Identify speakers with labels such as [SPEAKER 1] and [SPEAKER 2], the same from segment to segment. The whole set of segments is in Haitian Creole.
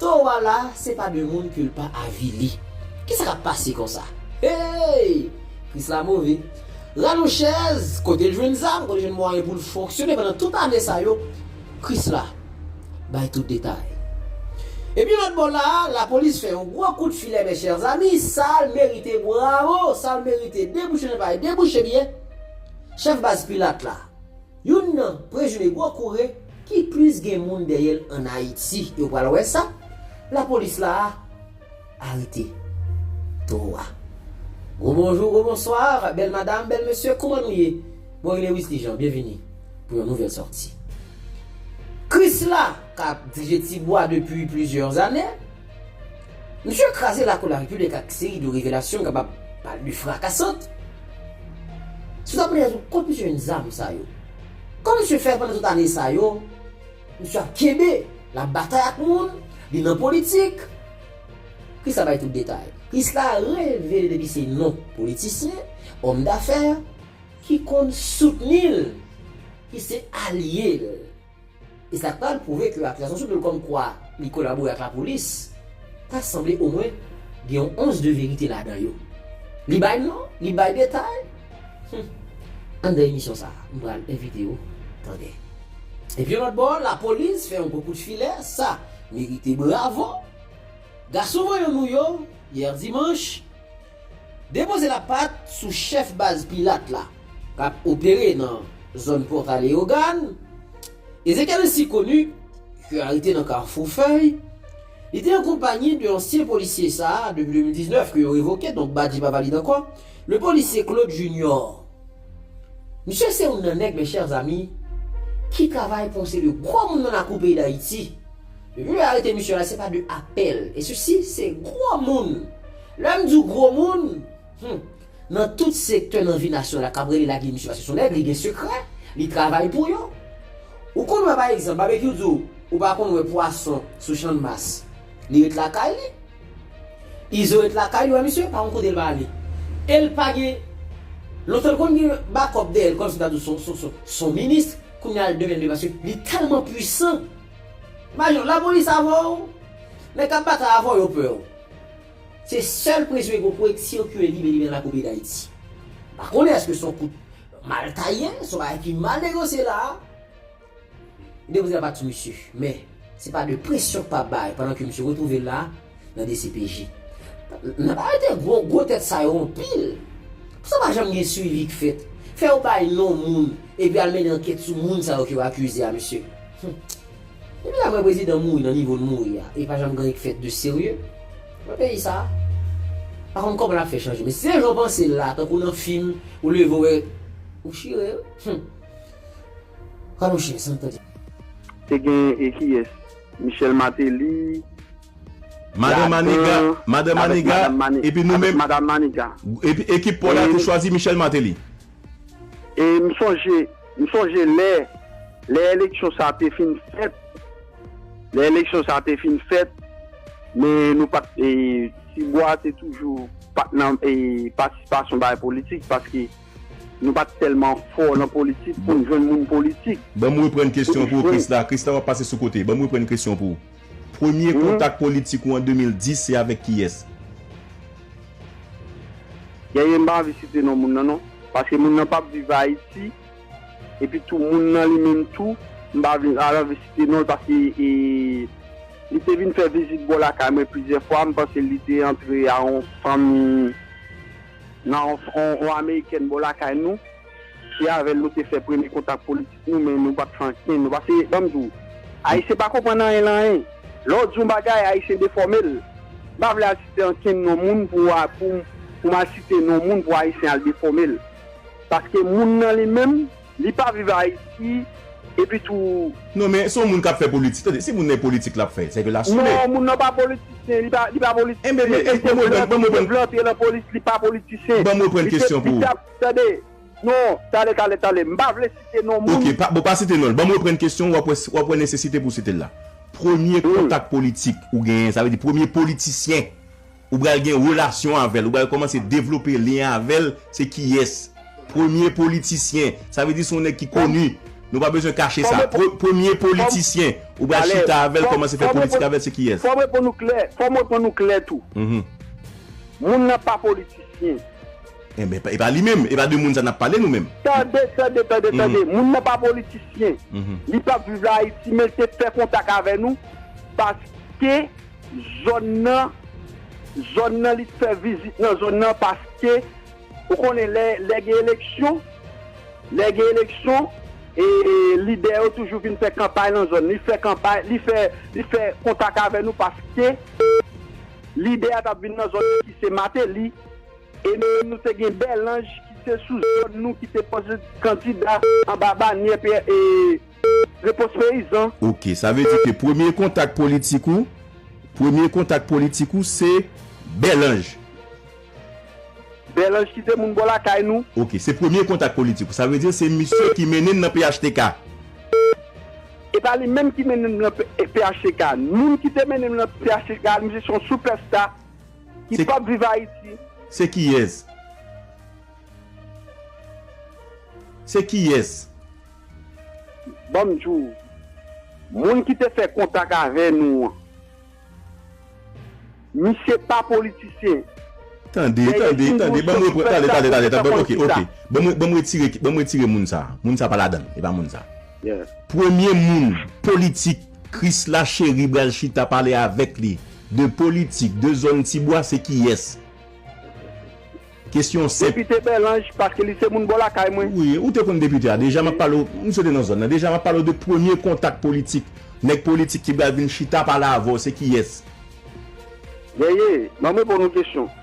[SPEAKER 1] Towo a la se pa de moun ke l pa avili. Ki sa k ap pase konsa? Hey! Kris la move. Ranou chèz, kote l jwenn zam, kote l jwenn mwayen pou l fonksyone pandan tout ane sa yo? Kris la bay tout detay. Epi lòt bò la a, lapolis fè yon gwo kout filè mes chers amis, sa l merite bravo, sa l merite debouche nen pa debouche byen. Chèf baz Pilat la. Youn nan prezime gwo koure ki plis gen moun dèyè l an Ayiti. E w pral wè sa lapolis la arete towo a. Gwo bonjou, gwo bonswa, bèl madam, bèl mesye, kouman nou ye? Mwen rele Wisly Jean, byenvini pou yon nouvèl sòti. Krisla k ap dirije Tibwa depi plizyè ane. Misye kraze lakou larepiblik ak seri de revelasyon kapab pale frakasant sou ta priyè nou kont misye menm zam sa yo. Kòm misye fè pandan tout ane sa yo, misye ap kenbe, lap batay ak moun, li nan politik. Kris la bay tout detay. Kris la revele depi se non politisyen, òm dafè, ki konn soutni l, ki se alye l. e sa pral pwouve ke akizasyon sou do l kòmkwa li kolabore ak lapolis ta sanble omwen gen yon ons de verite ladan yo. Li bay non, li bay detay, humm. Anndan emisyon sa a, m pral envite ou tande. Epi yon lòt bò, lapolis fè yon gwo kout filè, sa merite bravo. Gason vanyan nou yo, yè dimanch, Depoze lapat sou chèf baz pilat la k ap opere nan zòn Pòta Leyogàn, Ezekiel Sikonu, yo arete nan Kafou Fèy. Li te ankonpaye 2 ansyen polisye sa a depi 2019 ke yo revoke, donk Badji pa valide ankò, le policier Claude Junior. Misye se youn nan nèg, mes chers amis, ki travay pou se de gwo moun nan lakou peyi Dayiti. Depi yo arete misye la, se pa de apèl, e sesi se gwo moun Lè m di w gwo moun, hum, nan tout sektè nan vi nasyon la k ap rele lage misye pase s on nèg, li gen sekrè, li travay pou yo. Ou konn wè pa egzanp, Babekyou di w, ou pa konn wè pwason sou channmas, li ret lakay li. Izo ret lakay li, ou wè misye, pa gen kote l pa ale. E l pa gen, lontan l konn gen bakòp dèyè l, kòm si m ta di w s on minis, kounye a l devenn de paske li tèlman pwisan. Imajine w, lapolis avè w, nèg k ap batay avè w yo pè w. Se sèl presyon ki konn fè sikile limen limen la koube dayiti. M pa konnen eske son kout mal taye, son bagay ki mal negosye la a. Demoiselle pa ti mesye, men se pa de presyon k pa bay pandan ke misye retwouve l la a nan dcpj. N ap arete gwo gwo tèt sa yo anpil. Pou sa pa janm gen swivi k fèt. Fè yo bay non moun epi al mennen ankèt sou moun sa yo ke yo akize a mesye. Humm. Depi la vre prezidan mouri nan nivo l mouri a e pa janm gen anyen ki fèt de serye nan peyi sa a. Pa konn kòman l ap fè chanje men si se jan w panse l la tankou nan fim ou leve w wè ou chire humm pral yon chen san tande. Te gen
[SPEAKER 2] e kiyes? Michel Martelly,
[SPEAKER 3] Madan Maniga, ladan, Madan avèk Maniga, Madan Mani, epi nou avèk menm, Madan Maniga.
[SPEAKER 2] epi ekip paw
[SPEAKER 3] la te chwazi Michel Martelly.
[SPEAKER 2] E m sonje, m sonje lè, lè eleksyon sa a te fin fèt, lè eleksyon sa a te fin fèt, men nou pa t, e Tibwa te toujou pa t nan e patisipasyon bagay politik paske nou pa t tèlman fò nan politik pou n jwenn moun politik. Ban m reprann kesyon
[SPEAKER 3] an pou ou Krisla. Krisla w ap pase sou kote. Ban m reprann kesyon an pou ou. Premye kontak politik ou an 2010 se avèk kiyès?
[SPEAKER 2] Genyen m pa anvi site non moun nan non paske moun nan pap viv ayiti epi tou moun nan li menm tou m pa vin anvi site non l paske li te vin fè vizit bò lakay mwen plizyè fwa m panse li te antre a yon fanmi nan yon amerikèn bò lakay nou se avèl nou te fè premye kontak politik. Nou menm nou pap san ken nou pase banm di w ayisyen pa konprann anyen lan anyen lè w di yon bagay ayisyen defòme l m pa vle al site ankenn non moun pou a pou m pou m al site non moun pou ayisyen al defòme l paske moun nan li menm li pa viv ayiti epi tou. Non men son moun kap
[SPEAKER 3] fè politik tande si moun nan e politik lap fè seke la sou li. Non moun nan pa politisyen
[SPEAKER 2] li pa li pa politisyen li te
[SPEAKER 3] vle
[SPEAKER 2] antre
[SPEAKER 3] lan polis
[SPEAKER 2] li pa
[SPEAKER 3] politisyen li te li tap tande. Non,
[SPEAKER 2] tale tale tale. M pa vle site non moun. Ok, bon pa site non l. Banm
[SPEAKER 3] reprann kesyon w wap wè nesesite pou w site l la. Premye kontak politik ou genyen, sa vle di premye politisyen ou pral gen relasyon avè l, ou pral kòmanse devlope lyen avè l se kiyès? Premye politisyen, sa vle di se yon nèg ki koni, nou pa bezwen kache sa. Premye politisyen ou pral chita avè l, kòmanse fè politik avè l se kiyès? Fò m reponn ou klè, fò
[SPEAKER 2] m reponn ou klè tou. Moun nan pa politisyen. Enben,
[SPEAKER 3] e pa li menm? E pa de moun sa n ap pale nou menm? Tande, tande, tande,
[SPEAKER 2] tande! Moun nan pa politisyen. Li pa viv la Ayiti, men l te fè kontak avè nou paske zòn nan, zòn nan li te fè vizit nan zòn nan paske ou konnen lè, lè gen eleksyon, lè gen eleksyon e lidè yo toujou vin fè kanpay nan zòn. Li fè kanpay, li fè, li fè kontak avè nou paske lidè a t ap vin nan zòn nan ki se Mateli. E nou te gen Bèlanj ki se sou zòn nou ki te poze kandida anba banyè Repons Peyizan. Ok, sa vle di ke
[SPEAKER 3] premye kontak politik ou, premye kontak politik ou se Bèlanj?
[SPEAKER 2] Bèlanj ki te moun bò lakay nou. Ok, se premye kontak
[SPEAKER 3] politik ou. Sa vle di se misye ki mennen nan phtk?
[SPEAKER 2] E pa li menm ki mennen nan phtk. Moun ki te mennen nan phtk, misye se yon soupèsta. Ki pap viv Haiti. Se kiyes?
[SPEAKER 3] Se kiyes? Banm di
[SPEAKER 2] w. Moun ki te fè kontak avè nou an. Misye pa politisyen. Tande,
[SPEAKER 3] tande, tande, banm repran, tande, tande, tande, tande, ok, ok, banm retire, banm retire moun sa, moun sa pa ladann, e pa moun sa. Yes. Premye
[SPEAKER 2] moun
[SPEAKER 3] politik Krisla Chery bral chita pale avèk li de politik de zòn ti bwa se kiyès? Kesyon senp. Depite Bèlanj paske
[SPEAKER 2] li se moun bò lakay mwen. Wi, ou te konn depite a
[SPEAKER 3] deja map pale w, misye te nan zòn nan deja map pale w de premye kontak politik, nèg politik ki bral vin chita pale avè w se kiyès? Yeye,
[SPEAKER 2] banm reponn yon kesyon.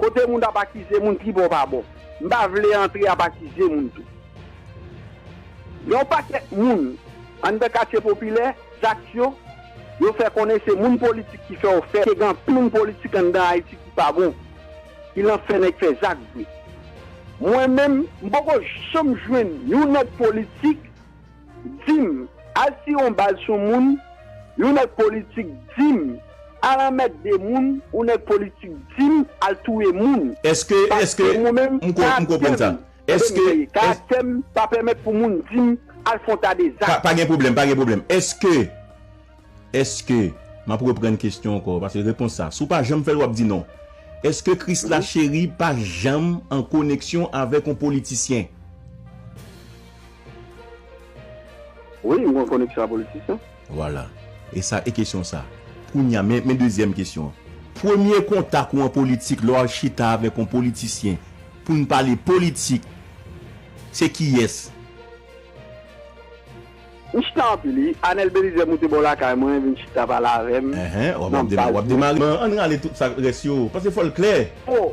[SPEAKER 2] Kote moun ap akize moun pi bon pa bon. M pa vle antre ap akize moun tou. Gen yon pakèt moun anndan katye popilè, Zaksyo, yo fè konnen se moun politik ki fè yo fè ke gen anpil moun politik anndan Ayiti ki pa bon, ki lan fè nèg fè zak vre. Mwen menm, m poko janm jwenn yon nèg politik. Dim, al tire yon bal sou moun, yon nèg politik dim, al anmètde moun, yon nèg politik dim, al touye moun. Eske, eske, Paske
[SPEAKER 3] mwen menm, m ko, m
[SPEAKER 2] konprann karaktè m, sa.
[SPEAKER 3] tande m Eske, mseye, es. karaktè m pa pèmèt
[SPEAKER 2] pou moun di m al fon ta de Pa, zak. pa gen pwoblèm, pa gen pwoblèm.
[SPEAKER 3] Eske, eske, m ap reprann kesyon ankò, paske repons sa, si w pa janm fè l w ap di non. Eske Krisla Cheri pa janm an koneksyon avèk yon politisyen?
[SPEAKER 2] Wi m konn koneksyon a politisyen. Vwala.
[SPEAKER 3] E sa e kesyon sa. Kounya men men dezyèm kesyon an. Premye kontak ou an politik lè w al chita avèk on politisyen pou n pale politik se kiyès?
[SPEAKER 2] M chita anpil wi. Anèl Belizè moute bò lakay mwen vin chita pale avè m nan baz mwen. Wap
[SPEAKER 3] demare. An n rale tout sa k rès yo. Paske fò l klè. O!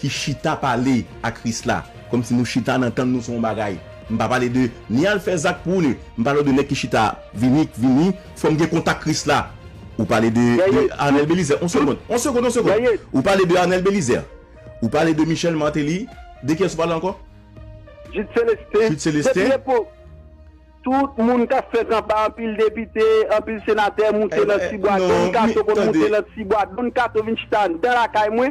[SPEAKER 3] ki chita pale a kris la kòm si nou chita nan tann nou se yon bagay m pa pale de ni al fè zak pou ni m pale w de nèg ki chita vini k vini fòm gen kontak kris la ou pale de de anèl belizè yon segond yon segond yon segond ou pale de anèl belizè ou pale de michèl mateli de kiyès ou pale ankò jid
[SPEAKER 2] selestin jid selestin tout moun kap fè kanpay anpil depite anpil senatè moute nan ti bwa don kato konn moute nan ti bwa don kato vin chita andan lakay mwen.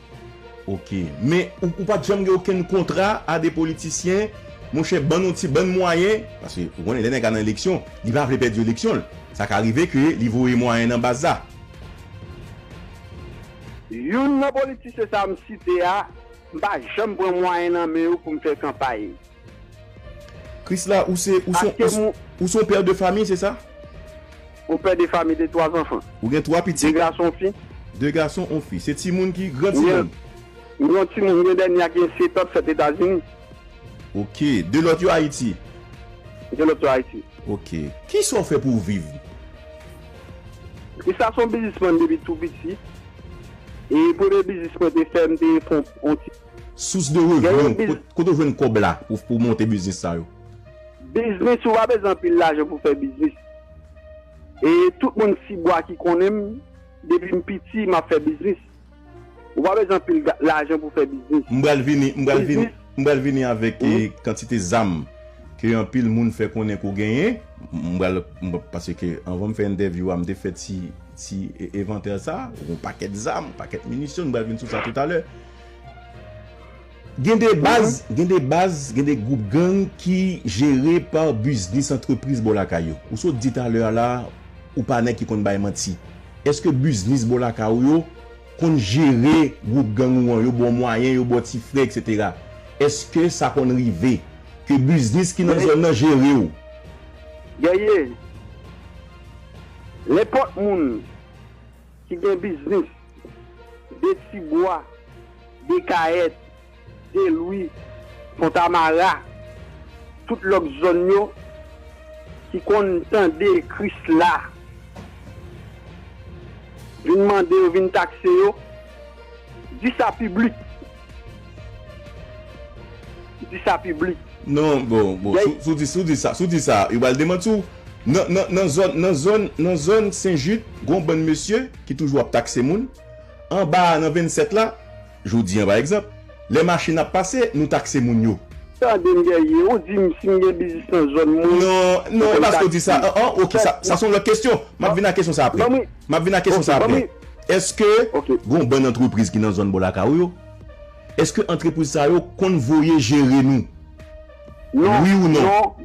[SPEAKER 3] Ok men ou pat janm gen okenn kontra a de politisyen monchè bann yon ti bann mwayen paske ou konnen lè nèg la nan eleksyon li pa vle pèdi eleksyon l sa ka rive ke li voye mwayen nan baz la.
[SPEAKER 2] Youn nan politisyen sa m site a m pa janm pran mwayen nan men yo pou m fè kanpay.
[SPEAKER 3] Krisla ou se ou son ou son père de famille se sa? On père
[SPEAKER 2] de famille de 3 enfants. Ou gen 3 pitit? 2
[SPEAKER 3] gason
[SPEAKER 2] on fi. 2 gason on
[SPEAKER 3] fi. Se timoun ki gran timoun? M gen yon timoun
[SPEAKER 2] m gen dènye a ki gen 7 ans fèt etazini. Ok,
[SPEAKER 3] 2 lòt yo ayiti? 2 lòt
[SPEAKER 2] yo ayiti. Ok. Kisa
[SPEAKER 3] ou fè pou ou viv?
[SPEAKER 2] Krisla son bizisman depi tou piti. E premye biznis mwen te fè m te fon on ti. Source
[SPEAKER 3] de revenu, kote ou jwenn kob la pou monte biznis sa yo? Biznis
[SPEAKER 2] ou pa bezwen anpil lajan pou fè biznis. E tout moun tibwa ki konnen m, depi m piti map fè biznis. Ou pa bezwen anpil lajan pou fè biznis. M pral vini, m pral vini,
[SPEAKER 3] m pral vini avèk kantite zam ke anpil moun fè konnen ke w genyen. M pral, pase ke anvan m fè entèvyou a m te fè ti, ti evantè sa. Yon pakèt zam, yon pakèt minisyon, m pral vini sou sa toutalè. Gen de baz, gen de baz, gen de gwoup gang ki jere pa biznis antrepriz bò lakay yo. Ou sot di talè a la a, ou pa nèg ki konn bay manti. Èske biznis bò lakay ou yo konn jere gwoup gang ou an, yo ba w mwayen, yo ba w ti frè eksetera? Èske sa konn rive ke biznis ki nan zòn nan jere w?
[SPEAKER 2] Guerrier, nenpòt moun. ki gen biznis de Tibwa, Dekayèt, Delwi, Fontamara, tout lòt zòn yo ki konn tande Krisla vin mande yo vin takse yo, di sa piblik. Di sa piblik. Non bon
[SPEAKER 3] bon si w di sa si w di sa yo pral demanti w nan nan nan zòn nan zòn nan zòn sen jid gen yon bann mesye ki toujou ap takse moun anba a nan 27 la jodi an pa egzanp lè machin ap pase nou takse moun yo. Tande m dèyè
[SPEAKER 2] ou di m si m gen biznis nan
[SPEAKER 3] zòn mwen non non e pa si w di sa an an ok sa sa se yon lòt kesyon m ap vin a kesyon sa aprè m ap vin a kesyon sa aprè. Eske gon bann antrepriz ki nan zòn bò lakay ou yo? Eske antrepriz sa yo konn voye jere nou?
[SPEAKER 2] Wi ou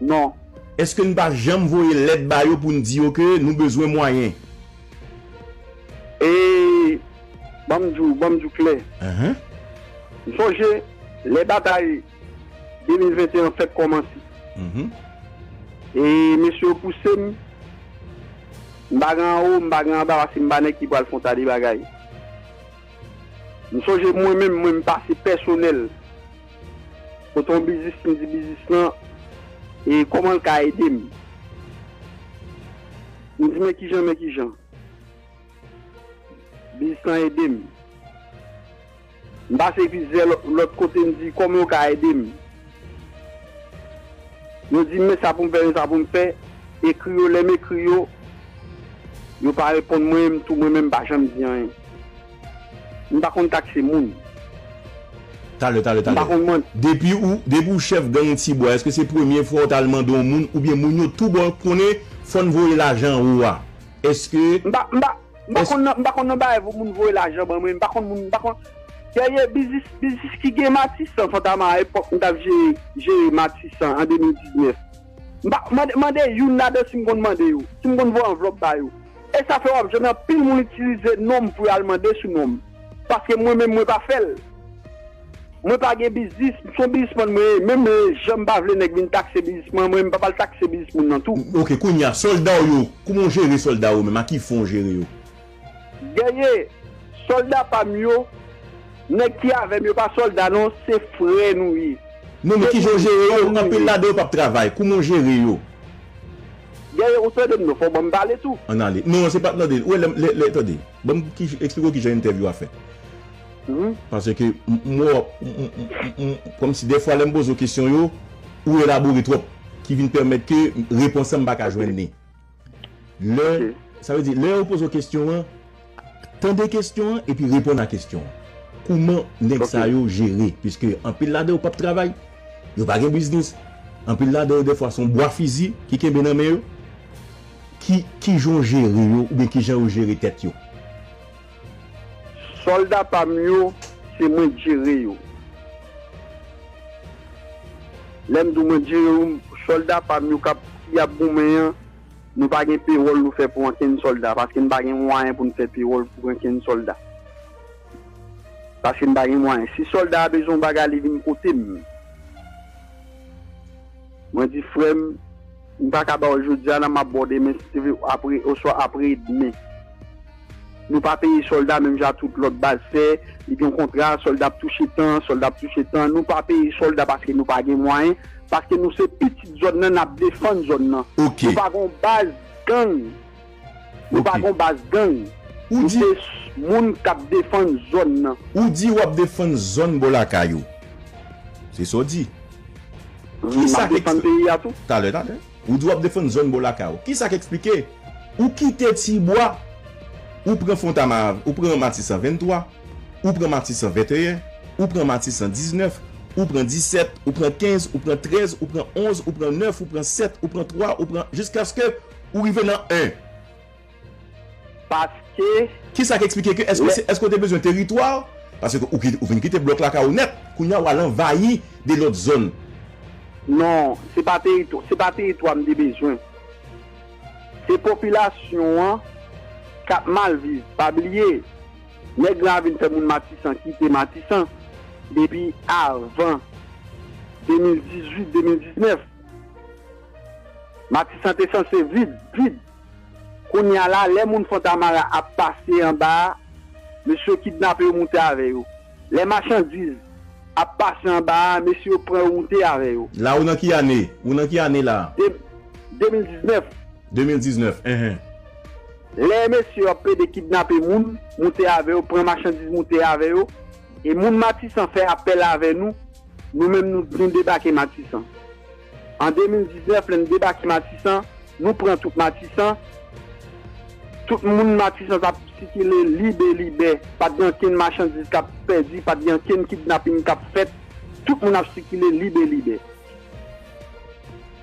[SPEAKER 2] non? Eske n pa
[SPEAKER 3] janm voye lèt ba yo pou n di yo ke nou bezwen mwayen? E
[SPEAKER 2] banm di w klè, m sonje lè batay 2021 an fèk kòmanse. E mesye yo pouse m. M pa gen anwo, m pa gen anba paske m pa nèg ki pral fon ta de bagay. M sonje mwen menm, mwen m pase pèsonèl kote yon biznis m di biznis lan e kòman l ka ede m. M di men kijan men kijan biznis lan ede m. M pase plizyè lòt kote m di kòman yo ka ede m. Yo di m men sa pou m fè men sa pou m fè, ekri yo lè m ekri yo, yo pa reponn mwen m tou mwen menm m pa janm di anyen. M pa konn takse moun.
[SPEAKER 3] Talè talè talè. Depi ou depi ou chèf gang ti bwa èske se premye fwa ou t al mande yon moun oubyen moun yo tou ba w konnen fò n voye lajan an ou a? Èske. M pa m pa M pa konn nan, m
[SPEAKER 2] pa konn nan bagay pou moun voye lajan ban mwen, m pa konn moun, m pa konn Dènye biznis, biznis ki gen Matisan Fantama a epòk m t ap jere, jere Matisan an 2019. M pa, mande, mande youn ladan si m konn mande yo, si m konn voye anvlòp ba yo. E sa fè w ap jwenn anpil moun itilize non m pou y al mande sou non m. Paske mwen menm mwen pa fè l. Mwen pa gen biznis, m son bizismann mwen ye, menm janm pa vle nèg vin takse bizisman mwen, m pap al takse bizis moun nan tou. Ok kounya soldaw
[SPEAKER 3] yo kouman ou jere soldaw yo menm a ki fon ou jere yo. Guerrier,
[SPEAKER 2] solda pam yo, nèg ki avèm yo pa solda non se frè nou ye. Non men kijan ou
[SPEAKER 3] jere yo, anpil ladan yo pap travay, kouman ou jere yo.
[SPEAKER 2] Guerrier ou tandem non fòw banm pale tou. An ale. Non se pa
[SPEAKER 3] tande, ou wè lè lè tande, banm esplike w kijan entèvyou a fèt. Wi. Paske m wè wap kòmsi dèfwa lè m poze w kesyon yo, ou elabore twòp ki vin pèmèt ke repons lan m pa ka jwenn li. Lè, sa vle di lè yo poze w kesyon an, tande kesyon an epi reponn a kesyon an. Kouman nèg sa yo jere? Piske anpil ladan yo pap travay, yo pa gen biznis, anpil ladan yo dèfwa se yon bwa fizi ki kenbe nan men yo. Ki, kijan w jere yo oubyen kijan yo jere tèt yo?
[SPEAKER 2] Solda pam yo se mwen k jere yo lèm di w mwen k jere yo solda pam yo kap ki ap goumen an nou pa gen pewòl nou fè pou ankenn solda paske n pa gen mwayen pou n fè pewòl pou ankenn solda paske n pa gen mwayen si solda a bezwen yon bagay li vin kote m mwen di frè m. M pa ka ba w jodi a nan, m ap ba w demen si te vle apre oswa apre demen. Nou pa peye sòlda menm jan ak tout lòt baz fè, li gen yon kontra, sòlda ap touche tan, sòlda ap touche tan, nou pa peye sòlda paske nou pa gen mwayen, paske nou se pitit zòn nan n ap defann zòn nan. Nou pa gen yon baz gang. Nou pa gon baz gang, nou se moun kap defann zòn nan. Ou di wap defann
[SPEAKER 3] zòn bò lakay ou. Se sa w di. Ki sa k esplike. Talè, talè.
[SPEAKER 2] Ou
[SPEAKER 3] di wap defann zòn bò lakay ou. Ki sa k esplike. Ou kite Tibwa, ou pran Fontama, ou pran Matisan 23, ou pran Matisan 21, ou pran Matisan 19, ou pran 17, ou pran 15, ou pran 13, ou pran 11, ou pran 9, ou pran 7, ou pran 3, ou pran jiskaske Ou rive nan 1.
[SPEAKER 2] Paske, Ki sa k esplike ke
[SPEAKER 3] èske lè. Èske ou te bezwen teritwa? Paske ou kite, ou fin kite blòk lakay ou nèt. Kounye a w al anvayi 2 lòt zòn. Non,
[SPEAKER 2] se pa teritwa, se pa teritwa m te bezwen. Se popilasyon an k ap mal viv. Pa bliye, nèg lan ap vin fè moun Matisan kite Matisan depi avan 2018, 2019. Matisan te sanse vid, vid. Kounya la, lè moun Fontamara ap pase anba a, mesye yo kidnape yo moute avè yo. Lè machandiz ap pase anba a, mesye yo pran yo moute avè yo. La ou nan ki ane?
[SPEAKER 3] Ou nan ki ane la? De, 2019. 2019, enhen.
[SPEAKER 2] Lè mesye yo ap plede kidnape moun, moute avè yo, pran machandiz moute avè yo, e moun Matisan fè apèl avè nou, nou menm nou debake Matisan. An 2019 lè n debake Matisan, nou pran tout Matisan, tout moun Matisan t ap sikile lib e libè, pa t gen ankenn machandiz k ap pèdi, pa t gen ankenn kidnaping k ap fèt, tout moun ap sikile lib e libè.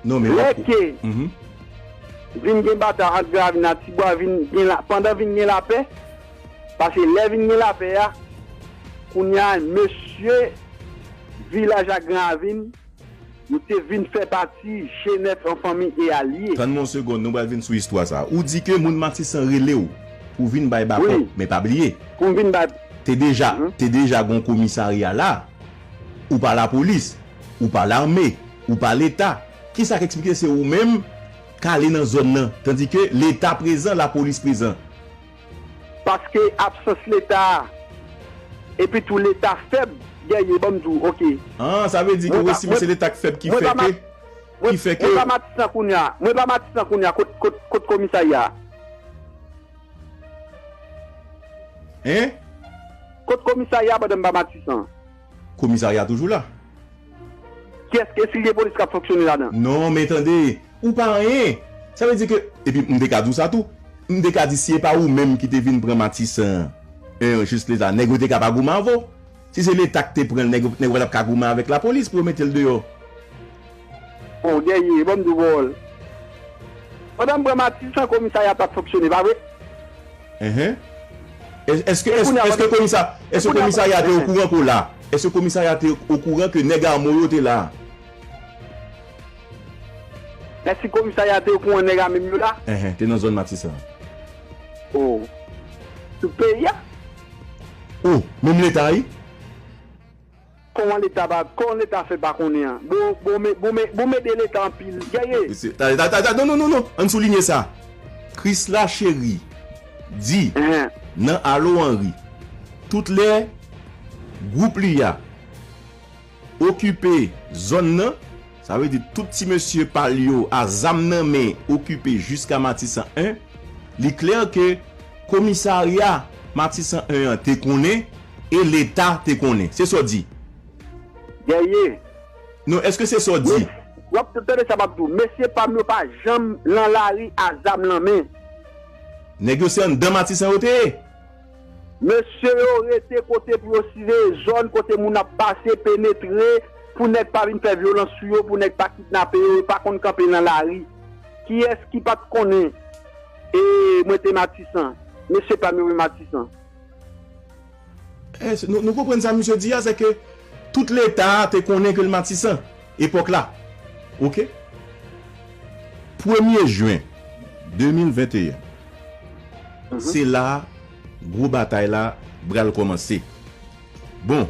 [SPEAKER 3] Lè ke
[SPEAKER 2] vin gen batay ant Gravin ak Tibwa, vin gen la, pandan vin gen lapè, pase lè vin gen lapè a, kounye a mesye vilaj ak Gravin, Yo te vin fè pati Genèt an fanmi e alye. Tann mwen yon segonn, nou pral vin
[SPEAKER 3] sou istwa sa. Ou di ke moun Matisan rele w pou w vin bay bako, men pa bliye,
[SPEAKER 2] te deja, te
[SPEAKER 3] deja gen yon komisarya la. Ou pa lapolis, ou pa lame, ou pa leta. Ki sa k eksplike se ou menm k ale nan zòn nan, tandike leta prezan, lapolis prezan?
[SPEAKER 2] Paske absans leta epi tou leta fèb gèye banm di w ok. Aah sa vle di ou
[SPEAKER 3] estime se leta k fèb ki fè ke ki fè ke. Mwen pa matisan kounya
[SPEAKER 2] mwen pa matisan kounya kot komisarya a. Hein? Kot komisarya a pandan m pa matisan? Komisarya
[SPEAKER 3] toujou la. Kyes
[SPEAKER 2] ke sil gen polis kap fonksyone ladan. Non men tande,
[SPEAKER 3] ou pa anyen. Sa vle di ke, epi m te ka di w sa tou, m te ka di si e pa ou menm ki te vin pran Matisan an, en jis le sa, nèg yo te ka pa goumen avè w. Si se leta ki te pran l, nèg yo pa tap ka goumen avèk lapolis pou yo mete l deyò.
[SPEAKER 2] Bon dènye, banm diw pawòl. Pandan m pran matisan komisarya pap fonksyone pa vre? Enhen
[SPEAKER 3] Eske eske komisa eske komisarya te okouran ke w la? Eske komisarya te okouran ke nèg ame w yo te la?
[SPEAKER 2] Eske komisarya te okouran nèg ame m yo la? Enhen Te nan zòn matisan
[SPEAKER 3] an.
[SPEAKER 2] Oh Tout peyi a?
[SPEAKER 3] Oh Menm leta wi?
[SPEAKER 2] Koman leta pa Kon leta fè pa konnen an boo boo me boo me boo mede leta anpil gèye. Mesye ta ta ta ta non
[SPEAKER 3] non non non ann soulinye sa Chrisla Cherie di nan Allo Henri tout lè gwoup li a okipe zòn nan. Sa vle di tout ti mesye pa l yo a zam nan men okipe jiska Matisan 1. Li klè ke komisarya Matisan 1 an te konnen e leta te konnen. Se sa w di? Dèyè.
[SPEAKER 2] Non,
[SPEAKER 3] èske se sa w di? W ap tande sa m ap di w.
[SPEAKER 2] Mesye pa m yo pa janm lan lari a zam lan men. Nèg yo
[SPEAKER 3] se anndan Matisan yo te ye? Mesye
[SPEAKER 2] yo rete kote pou yo siveye zòn kote moun ap pase, penetre, pou nèg pa vin fè vyolans sou yo, pou nèg pa kidnape yo, yo pa konn kanpe nan lari. Kiyès ki pa t konnen e mwen te Matisan? Mesye pa m yo men Matisan.
[SPEAKER 3] Èske nou konprann sa misye di a? Sèke tout Leta a te konnen ke l Matisan? Epòk la ok. Premye jen 2021 se la gwo batay la bral kòmanse bon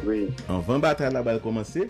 [SPEAKER 3] anvan batay la bal kòmanse.